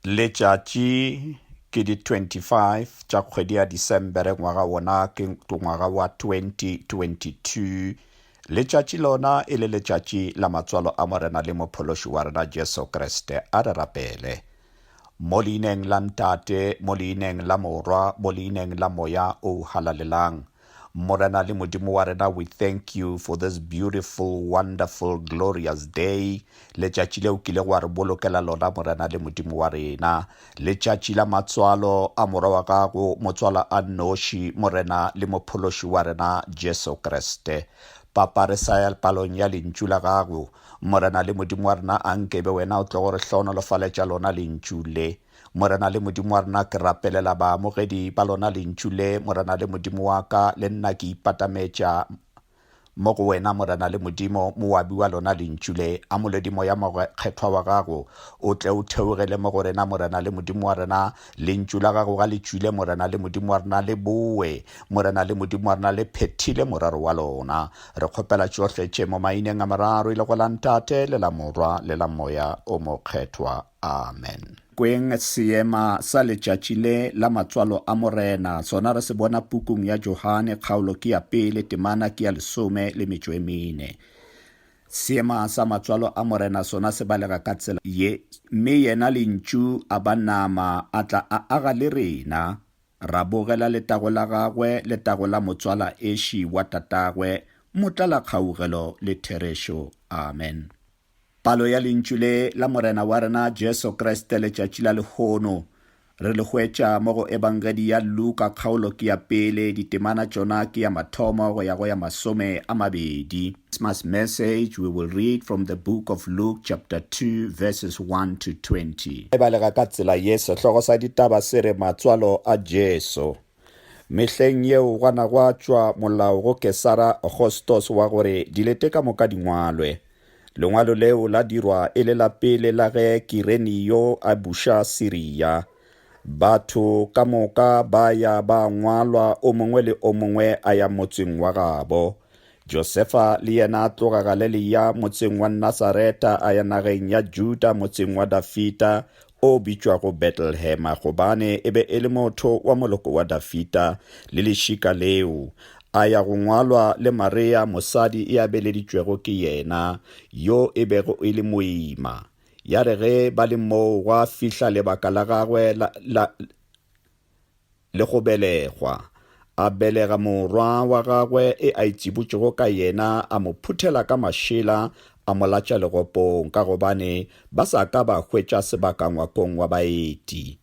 Letšatši ke di 25 tša kgwedi ya Disembere ngwaga wona ke ngwaga wa 2022. Letšatši lona e le letšatši la matswalo a Morena le Mophološi wa rena Jesu Kriste. A re rapele. Mo leineng la Ntate, mo leineng la Morwa, mo leineng la Moya o halalelang. Morena le Modimo wa rena, we thank you for this beautiful, wonderful, glorious day, letšatši le o kilego wa re bolokela lona, Morena le Modimo wa rena, letšatši la matswalo a Morwa wa gago, motswala a nnoši, Morena le Mophološi wa rena, Jesu Kriste. Papa, re sa ya palong ya lentšu la gago, Morena le Modimo wa rena, a nkebe wena o tlogo re hlohonolofaletša lona lentšu le. Morena le Modimo wa rena, ke rapelela baamogedi ba lona lentšu le, Morena le Modimo wa ka, le nna ke ipatametša mo go wena morena le modimo moabi wa lona lentšu le a molodi moya mokgethwa wa gago o tle o theogele mo go rena morena le modimo wa rena lentšu la gago ga le tšwile morena le modimo wa rena le boe morena le modimo wa rena le phethile morero wa lona re kgopela tšohle tše mo maineng a mararo e le go la ntate le la morwa le la moya o mokgethwa Amen. Kweng seema sa letšatši le la matswalo a Morena, sona re se bona pukung ya Johane, kgaolo ke ya pele, temana ke ya lesome le metšo e mene. Seema sa matswalo a Morena sona se balega ka tsela ye, Mme yena Lentšu a ba nama, a tla a aga le rena, ra bogela letago la gagwe, letago la motswala eši wa tatagwe, motlalakgaugelo le therešo. Amen. Palo ya lentšu le la Morena wa rena Jesu Kriste letšatši la lehono. Re le hwetša mo go Ebangedi ya Luka kgaolo ke ya pele, ditemana tšona ke ya mathomo go ya go ya masome a mabedi. Christmas message, we will read from the book of Luke chapter 2 verses 1 to 20. Re balega ka tsela ye sehlogo sa ditaba se re Matswalo a Jesu. Mehleng yeo gwa na gwa tšwa molao go Kesara Augustus wa gore dilete ka moka di ngwalwe. Lengwalo leo la dirwa e le la pele la ge Kirenio a buša Siria. Batho ka moka ba ya ba ngwalwa o mongwe le o mongwe a ya motseng wa gabo. Josefa le yena a tloga Galeleya motseng wa Nasareta a ya nageng ya Juda motseng wa Dafita o bitšwago Betlehema gobane e be e le motho wa moloko wa Dafita le lešika leo, a ya go ngwalwa le Mareya mosadi e a beleditšwego ke yena, yo e bego e le moima. Ya re ge ba le moo gwa fihla lebaka la gagwe la, la, le go belegwa. A belega morwa wa gagwe e a itsibotšego ka yena, a mo phuthela ka mašela, a mo latša legopong, ka gobane ba sa ka ba hwetša sebaka ngwakong wa baeti.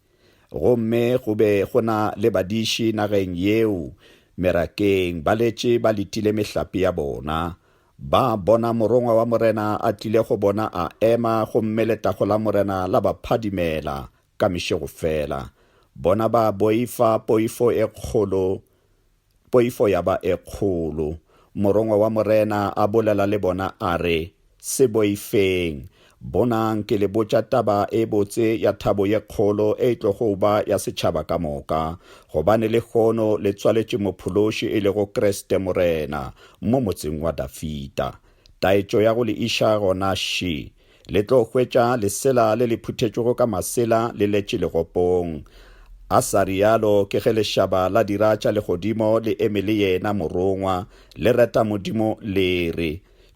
Gomme go be go na le badiši nageng yeo, merakeng, ba letše ba letile mehlape ya bona. Ba bona morongwa wa morena a tlile go bona a ema, gomme letago la morena la ba phadimela, Ka mešego fela, bona ba boifa poifo e kgolo, poifo ya ba e kgolo. Morongwa wa Morena a bolela le bona a re, Se boifeng. Bonang, ke le botša taba e botse ya thabo ye kgolo e tlogo ba ya setšhaba ka moka, gobane lehono le tswaletše Mophološi e lego Kriste Morena, mo motseng wa Dafida. Taetšo ya go le iša gona ši, Le tlo hwetša lesela le le phuthetšwego ka masela le letše legopong. A sa rialo ke ge lešaba la dira tša legodimo le eme le yena morongwa, le reta Modimo le re,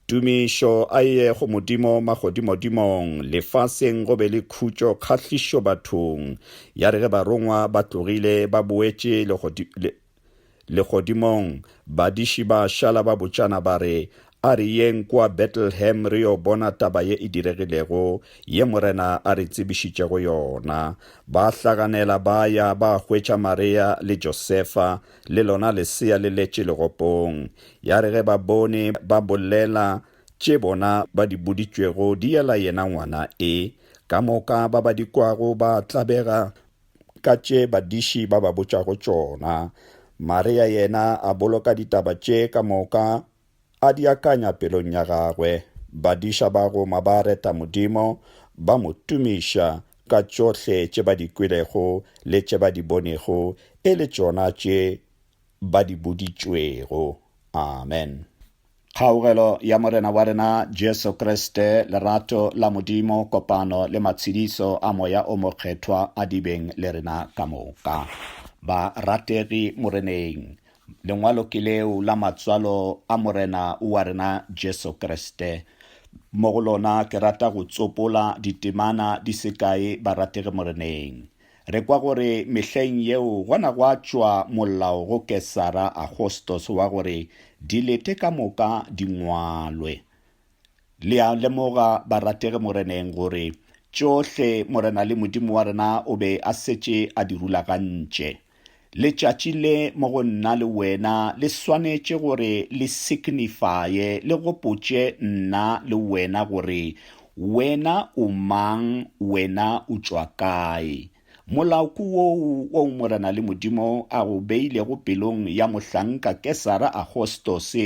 Tumišo a ye go Modimo magodimodimong, lefaseng go be le khutšo kgahlišo bathong. Ya re ge barongwa ba tlogile ba boetše Legodimong, badiši ba šala ba botšana ba re, A re yeng kua Betlehem re yo bona taba ye e diregilego, ye Morena a re tsebišitšego yona. Ba hlaganela ba ya ba hwetša Maria le Josefa le lona lesea le letše legopong. Ya re ge ba bone ba bolela tše bona ba di boditšwego di yela yena ngwana e. Ka moka ba ba di kwago ba tlabega ka tše badiši ba ba botšago tšona. Maria yena a boloka ditaba tše ka moka, a di akanya pelong ya gagwe. Badiša ba Roma ba reta Modimo, ba mo tumiša ka tšohle tše ba di kwelego le tše ba di bonego, e le tšona tše ba di boditšwego. Amen. Kgaogelo ya Morena wa rena Jesu Kriste, lerato la Modimo, kopano le matshediso a Moya o Mokgethwa a dibeng le rena ka moka. Ba rategi Moreneng, lengwalo ke leo la matswalo a Morena wa rena Jesu Kriste. Mo go lona ke rata go tsopola ditemana di sekae barategi Moreneng. Re kwa gore mehleng yeo gona gwa tšwa molao go Kesara Agostos wa gore dilete ka moka di ngwalwe. Le a lemoga, barategi Moreneng, gore tšohle Morena le Modimo wa rena o be a setše a di rulagantše. Letšatši le mo go nna le wena le swanetše gore le signifye, le gopotše nna le wena gore wena o mang, wena o tšwa kae. Molaoku woo woo Morena le Modimo a go beilego pelong ya Mohlanka Kesara Agostose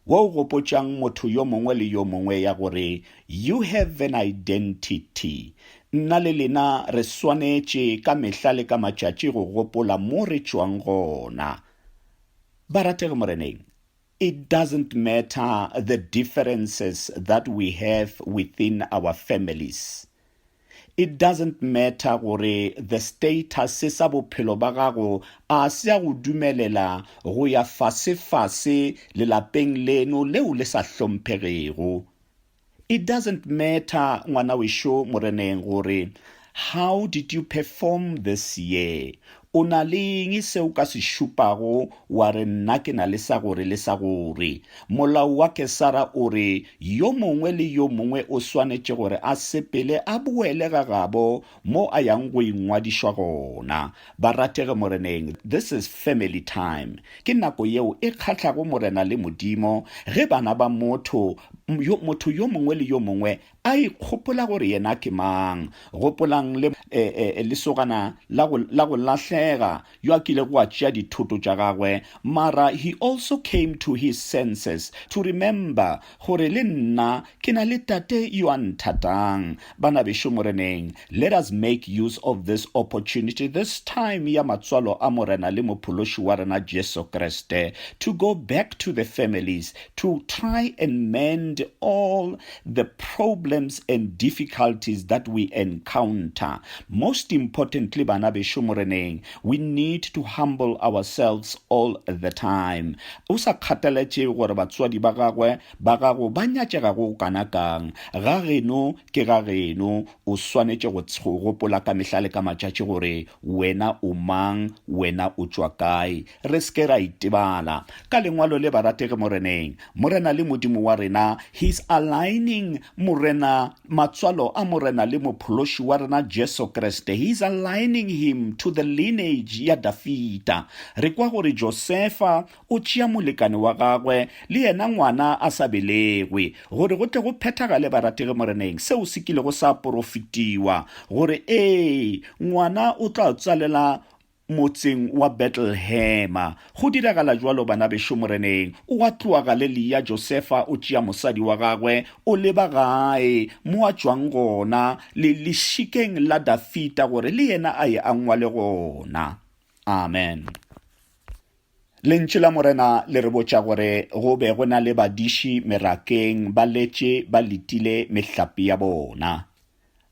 wo o gopotšang motho yo mongwe le yo mongwe ya gore you have an identity. Nna le lena re swanetše ka mehla le ka matšatši go gopola mo re tšwang gona. Barategi Moreneng, it doesn't matter the differences that we have within our families. It doesn't matter gore the status sa bophelo ba gago a se a go dumelela go ya fasefase lelapeng leno leo le sa hlomphegego. It doesn't matter ngwana wešo Moreneng gore how did you perform this year, O na le eng se o ka se šupago wa re nna ke na le sa gore le sa gore? Molao wa Kesara o re, Yo mongwe le yo mongwe o swanetše gore a sepele a boele ga gabo mo a yang go ingwadišwa gona. Barategi Moreneng, this is family time. Ke nako yeo e kgahlago Morena le Modimo ge bana ba motho, yo, motho yo mongwe le yo mongwe A ikgopola gore yena ke mang. Gopolang le, e, e, lesogana la go, la go lahlega, yo a kilego a tšea dithoto tša gagwe, mara he also came to his senses, to remember gore le nna ke na le Tate yo a nthatang. Banabešo Moreneng, let us make use of this opportunity this time ya matswalo a Morena le Mophološi wa rena Jesu Kriste, to go back to the families, to try and mend all the problems and difficulties that we encounter. Most importantly, bana besho moreneng, we need to humble ourselves all the time. O sa kgathaletše gore batswadi ba gagwe ba gago ba nyatšega go kana kang, ga geno ke ga geno, o swanetše go tsho gopola ka mehla le ka matšatši gore wena o mang, wena o tšwa kae. Re se ke ra itebala ka lengwalo le, Barategi Moreneng, Morena le Modimo wa rena, He's aligning Morena, matswalo a Morena le Mophološi wa rena Jesu Kriste, He's aligning him to the lineage ya Dafida. Re kwa gore Josefa o tšea molekane wa gagwe, le yena ngwana a sa belegwe, gore go tle go phethagale, Barategi Moreneng, seo se kilego sa porofetiwa, gore, Ee, ngwana o tla tswalela motseng wa Betlehema. Go diragala jwalo, bana bešo Moreneng, o a tloa Galelea, Josefa o tšea mosadi wa gagwe, o leba gae mo a tšwang gona, le lešikeng la Dafita, gore le yena a ye a ngwale gona. Amen. Lentšu la Morena le re botša gore go be go na le badiši merakeng ba letše ba letile mehlapi ya bona.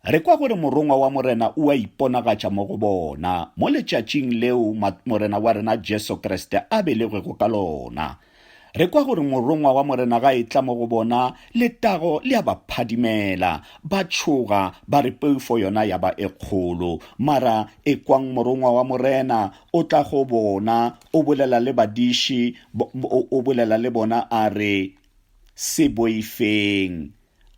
Re kwa gore morongwa wa Morena o a iponagatša mo go bona mo letšatšing leo Morena wa rena Jesu Kriste a belegwego ka lona. Re kwa gore morongwa wa Morena ga e tla mo go bona, letago le a ba phadimela, ba tšhoga, ba re poifo yona ya ba e kgolo. Mara ekwang morongwa wa Morena O tla go bona, o bolela le badiši, o bolela le bona a re, Se boifeng.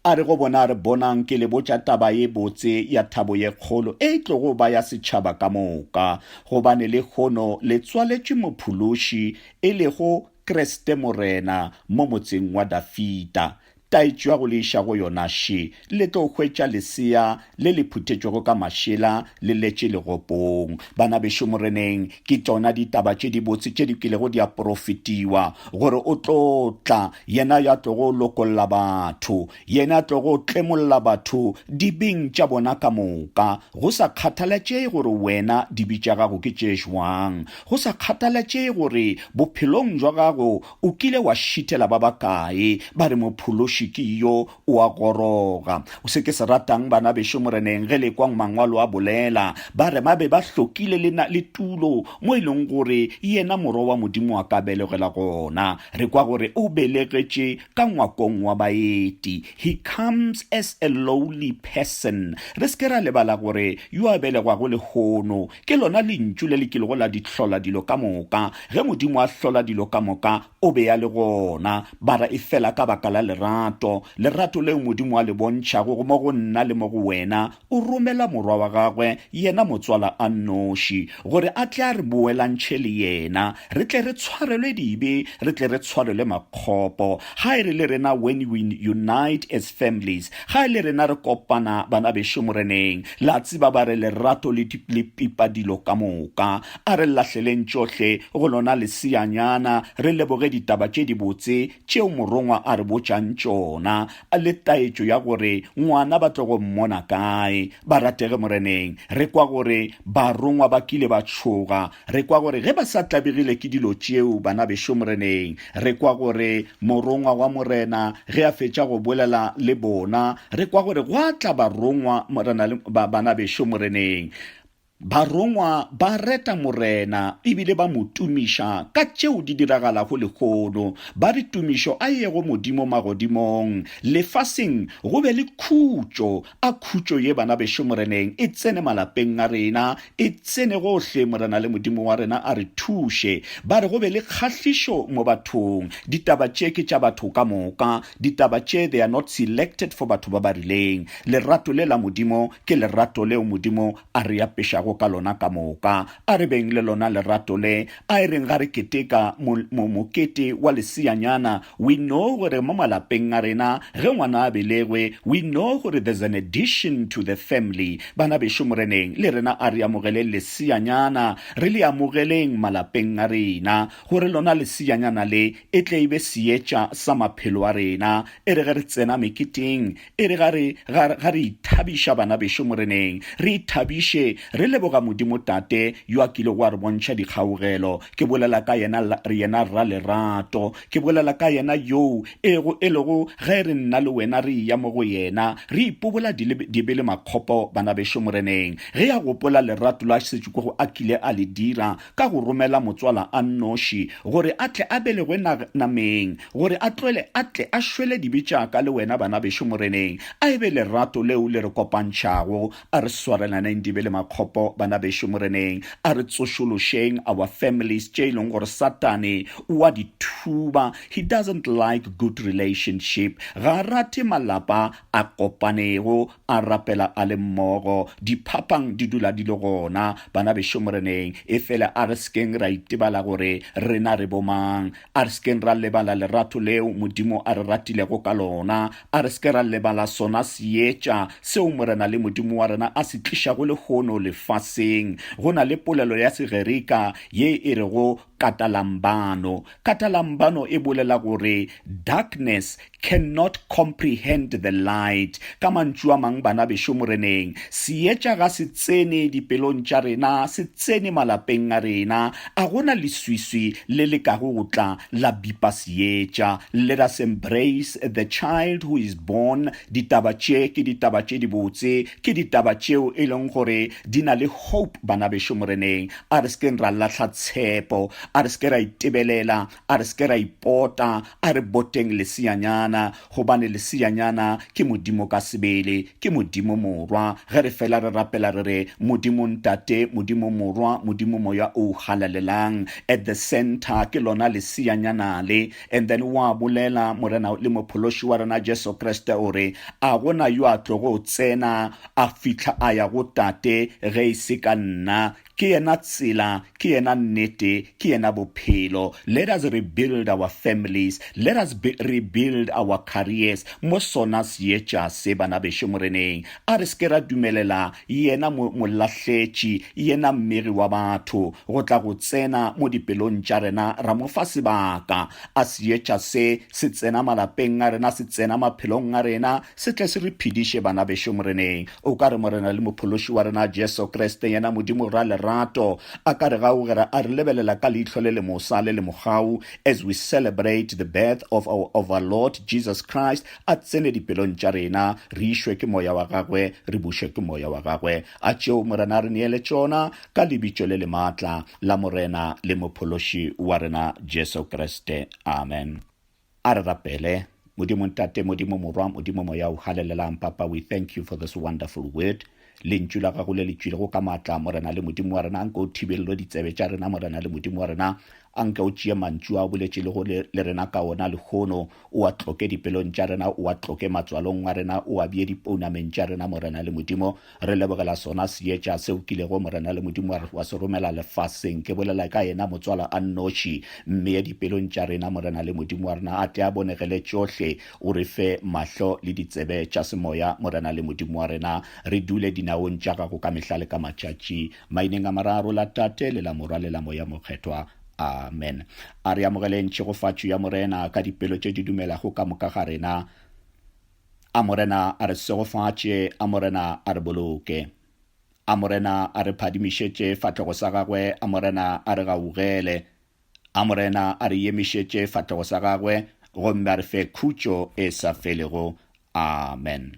A re go bona a re, Bonang, ke le botša taba ye botse ya thabo ye kgolo e tlogo ba ya setšhaba ka moka, gobane lehono le tswaletšwe Mophološi, e lego Kriste Morena, mo motseng wa Dafida. Taetšo ya go le iša go yona še le tlo hwetša lesea le le phuthetšwego ka mašela le letše legopong. Bana bešo Moreneng, ke tšona ditaba tše dibotse tše di kilego di a porofetiwa, gore o tlo tla, yena yo a tlogo lokolla batho, yena a tlogo tlemolla batho dibing tša bona ka moka, go sa kgathalatšege gore wena dibi tša gago ke tše žwang, go sa kgathalatšege gore bophelong bja gago O kile wa šithela ba bakae ba re mophološi ke yo o a goroga. Se ke se ratang bana bešo Moreneng ge le kwang Mangwalo a bolela ba re ba be ba hlokile le na le tulo mo e leng gore yena Morwa wa Modimo a ka belegela gona. Re kwa gore o belegetše ka ngwakong wa baeti, He comes as a lowly person. Re se ke ra lebala gore yo a belegwago lehono Ke lona Lentšu le le kilego la di hlola dilo ka moka. Ge Modimo a hlola dilo ka moka, O be a le gona. Ba ra e fela ka baka la lerato, lerato leo Modimo a le bontšhago go mo go nna le mo go wena, O romela Morwa wa Gagwe, Yena Motswala a nnoši, gore a tle a re boelantšhe le Yena, re tle re tshwarelwe dibe, re tle re tshwarelwe makgopo. Ga e re le rena, When we unite as families, ga e le rena re kopana, banabešo Moreneng, La tseba ba re lerato le, le pipa dilo ka moka. A re lahleleng tšohle go lona leseanyana, re leboge ditaba tše dibotse tšeo morongwa a re botšang tšona, le taetšo ya gore ngwana ba tlo go mmona kae. Barategi Moreneng, re kwa gore barongwa ba kile ba tšhoga Re kwa gore ge ba sa tlabegile ke dilo tšeo, bana bešo Moreneng, re kwa gore Morongwa wa Morena ge a fetša go bolela le bona, re kwa gore gwa tla barongwa morena le, ba, bana bešo Moreneng. Barongwa ba reta Morena ebile ba mo tumiša ka tšeo di diragalago lehono. Ba re, Tumišo a yego Modimo magodimong, lefaseng go be le khutšo. A khutšo ye bana bešo Moreneng e tsene malapeng a rena, e tsene gohle, Morena le Modimo wa rena a re thuše. Ba re go be le kgahlišo mo bathong. Ditaba tše ke tša batho ka moka. Ditaba tše they are not selected for batho ba ba rileng. Lerato le la Modimo ke lerato leo Modimo a re apešago ka lona ka moka. A re beng le lona lerato le, A e reng ga re keteka mokete wa leseanyana, we know gore mo malapeng a rena ge ngwana a belegwe, we know gore there's an addition to the family. Bana bešo Moreneng, le rena a re amogeleng leseanyana, re le amogeleng malapeng a rena, gore lona leseanyana le e tle e be seetša sa maphelo a rena. E re ge re tsena meketeng, E re ga re, ga, ga re ithabiša, bana bešo Moreneng, re ithabiše, re leboga Modimo Tate, yo a kilego a re bontšha dikgaugelo. Ke bolela ka Yena, Yena Rra Lerato. Ke bolela ka Yena Yoo, ego, e lego, ge re nna le wena re eya mo go Yena, re ipobola dile, dibe le makgopo, bana bešo Moreneng. Ge a gopola lerato la setšo ko go a kile a le dira, ka go romela motswala a nnoši, gore a tle a belegwe na, nameng, gore a tlwele a tle a šwele dibe tša ka le wena, bana bešo Moreneng. A e be lerato leo le re kopantšhago. A re swarelaneng dibe le makgopo, bana bešo Moreneng. A re tsošološeng our families tše e leng gore Satane o a di thuba. He doesn't like good relationship. Ga a rate malapa a kopanego. a rapela a le mmogo diphapang di dula di le gona bana bešo moreneng e fele a re sekeng ra itebala gore rena re bomang a re sekeng ra lebala lerato leo modimo a re ratilego ka lona a re seke ra lebala sona seetša seo morena le modimo wa rena a se tlišago lehono lefaseng go na le polelo ya segerika ye e rego Katalambano, Katalambano e bolela gore darkness cannot comprehend the light. Ka mantšu a mang, bana bešo Moreneng, seetša ga se tsene dipelong tša rena, se tsene malapeng a rena. A gona leswiswi le lekago go tla la bipa seetša. Let us embrace the child who is born. Ditaba tše ke ditaba tše dibotse, ke ditaba tšeo e leng gore di na le hope, bana bešo Moreneng. a re sekeng ra lahla tshepo a re seke ra itebelela a re seke ra ipota a re boteng leseanyana gobane leseanyana ke modimo ka sebele ke modimo morwa ge re fela re rapela re re modimo ntate modimo morwa modimo moya o halalelang at the center ke lona leseanyana le and then wa bolela morena le mophološi wa rena jesu kriste o re a gona yo a tlogo tsena a fihla a ya go Tate, ge e se ka nna. Ke yena tsela, ke yena nnete, ke yena bophelo. Let us rebuild our families, let us be, rebuild our careers mo sona seetša se, bana bešo Moreneng. A re se ke ra dumelela yena mo, molahletši, yena mmegi wa batho, go tla go tsena mo dipelong tša rena, ra mo fa sebaka. A seetša se, se tsena malapeng a rena, se tsena maphelong a rena, Se tle se re phediše, banabešo, Moreneng. O ka re Morena le Mophološi wa rena Jesu Kriste, yena Modimo Ralerato, a ka re gaugera a re lebelela ka leihlo le lemosa, le lemogau, as we celebrate the birth of our Overlord Jesus Christ, a tsene dipelong tša rena, re išwe ke Moya wa Gagwe, re bušwe ke Moya wa Gagwe. A tšeo Morena a re neele tšona, ka Lebitšo le le maatla la Morena le Mophološi wa rena Jesu Kriste. Amen. A re rapele. Modimo Ntate, Modimo Morwa, Modimo Moya o Halelelang, Papa, we thank you for this wonderful word. Lentšu la gago le le tšwilego ka maatla, Morena le Modimo wa rena, nke o thibelelo ditsebe tša rena, Morena le Modimo wa rena, a nke o tšee mantšu a o boletše le go le, le rena ka ona lehono, o a tloke dipelong tša rena, o a tloke matswalong a rena, o a bee dipounameng tša rena, Morena le Modimo, Re lebogela sona seetša seo kilego Morena le Modimo wa re wa se romela lefaseng. Ke bolela ka yena motswala a nnoši. Mmeye dipelong tša rena, Morena le Modimo wa rena, a tle a bonegele tšohle. O re fe mahlo le ditsebe tša semoya, Morena le Modimo wa rena, re dule dinaong tša gago ka mehla le ka matšatši. Maineng a mararo, la Tate, le la Morwa, le la Moya Mokgethwa. Amen. A re amogeleng tšhegofatšo ya Morena ka dipelo tše di dumelago ka moka ga rena. A Morena a re segofatše, a Morena a re boloke. A Morena a re phadimišetše fatlhogo sa gagwe, a Morena a re gaugele. A Morena a re yemišetše fatlhogo sa gagwe, gomme a re fe khutšo e sa felego. Amen.